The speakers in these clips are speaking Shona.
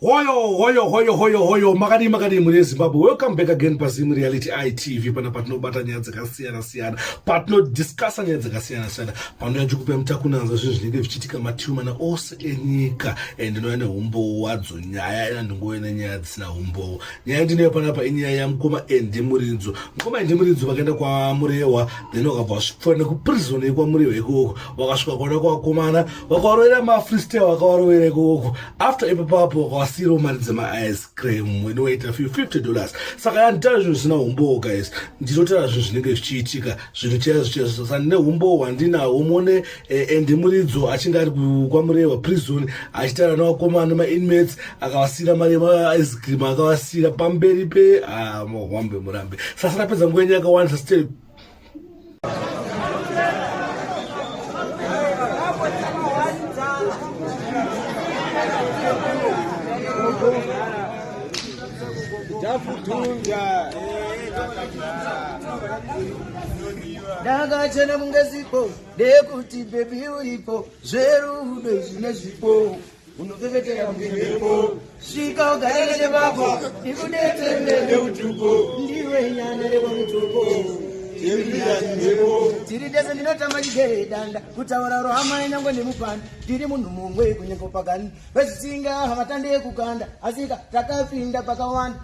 Hoyo hoyo hoyo hoyo hoyo makadii makadii muri ezimbabwe welcome back again pazimu reality itv pana patinobata nyaya dzakasiyana siyana patinodiscussa nyaya dzakasiyana siyana panonyanji kupa mutakunanza zvinhu zvinenge zvichiitika matiu mana ose enyika and ndinouya neumbowo wadzo nyaya ina ndingouya nenyaya dzisina umbowo nyaya ndinoyo panapa inyaya yamukoma endimuridzo mukoma endimuridzo vakaenda kwamurewa then wakabva vasvipfura nekuprizoni kwamurewa ikoko wakasvika kwaona kwakomana vakawarovera mafreestyle vakawarovera ikoko after ipapapo kwasiro mari dzemaice cream wene waita few 50 dollars saka yanditara zvinhu zvisina umbowo guys ndinotara zvinhu zvinenge zvichiitika zvinhu chaizo chaizo saka ndine umbowo hwandinawo mone eh, ende muridzo achinge ari kwamurewa prison achitara nevakomana mainmates akavasira mari yemaice cream akavasira pamberi pe ah, muhambe murambe sasa napedza nguva yenyu yakawandisa still Jafudunja. Ndakachena munge zipo, dekuti bebi uripo, zverudo izvi nezvipo. Unopepetera kumhepo, svika ugare nechebako, ndikudetsere neutuko, ndiwe nyana rekwamutuko. Tiri tese ndinotamba chigere danda kutaura rohamai nyangwe nemupanda tiri munhu mumwe kunyengo pagani vesisinga havatande yekukanda asika takapinda pakawanda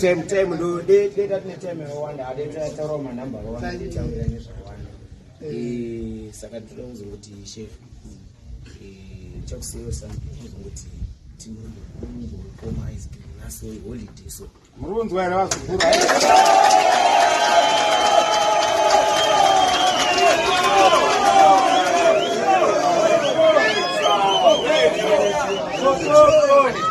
Tem tem ndo de de that ne tem wanda ade ta ta roma number wanda de ta uya ne zwa wanda. Eh saka tiro uzo kuti chef. Eh chok sio sa uzo kuti timu ngo koma is be na so holiday so. Murunzi wena wa kuvura. Go go go.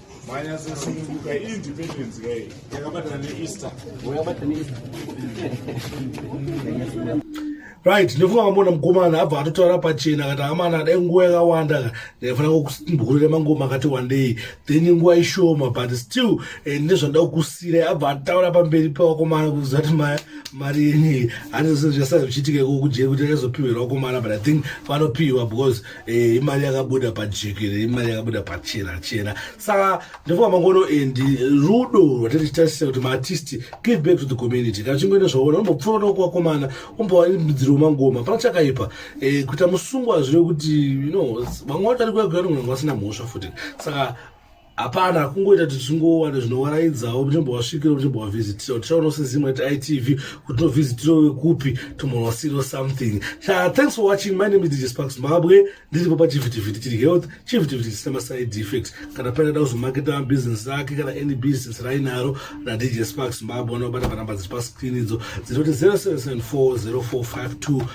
manyatsosununguka iindependence kai yakabatana neeaster right ndofunga kamona mukomana abva atotaura pachena akati amana adai nguva yakawanda ka ndaifanira kukumbugurira mangoma akati wandei then nguva ishoma but still eh, ndezvandaa kukusira abva ataura pamberi pevakomana kuziva ti mari yenye hanizvasai zvichiitika ikoko kujeri kuti akazopiwerwa vakomana but i think vanopiwa because Eh, imari yakabuda pajekere imari yakabuda pachena chena saka ndofunga mangono and eh, rudo rwatiri tichitarisa kuti maartisti give back to the community kana chingoenda zvaona unombopfuura nao kuvakomana umbowa mudziri wemangoma pana chakaipa eh, kuita musungwa zvire kuti you know vamwe vacho ari kuyakuya nongonanga vasina mhosva futi saka hapana hakungoita kuti tingowana zvinovaraidzawo muchimbo wasvikira muchimbo wavhizitira tichaona sezimwe ti itv kuti novhizitira wekupi tomonwasiro something sha thanks for watching my name is dj sparks mabwe ndiripo pachivhitivhiti chiri health chivhitivhiti chisina maside effect kana paine da kuzomaketa business ake kana any business rainaro nadj sparks mabwe wanaobata panamba dziri pascreen idzo dzinoti 0774 0452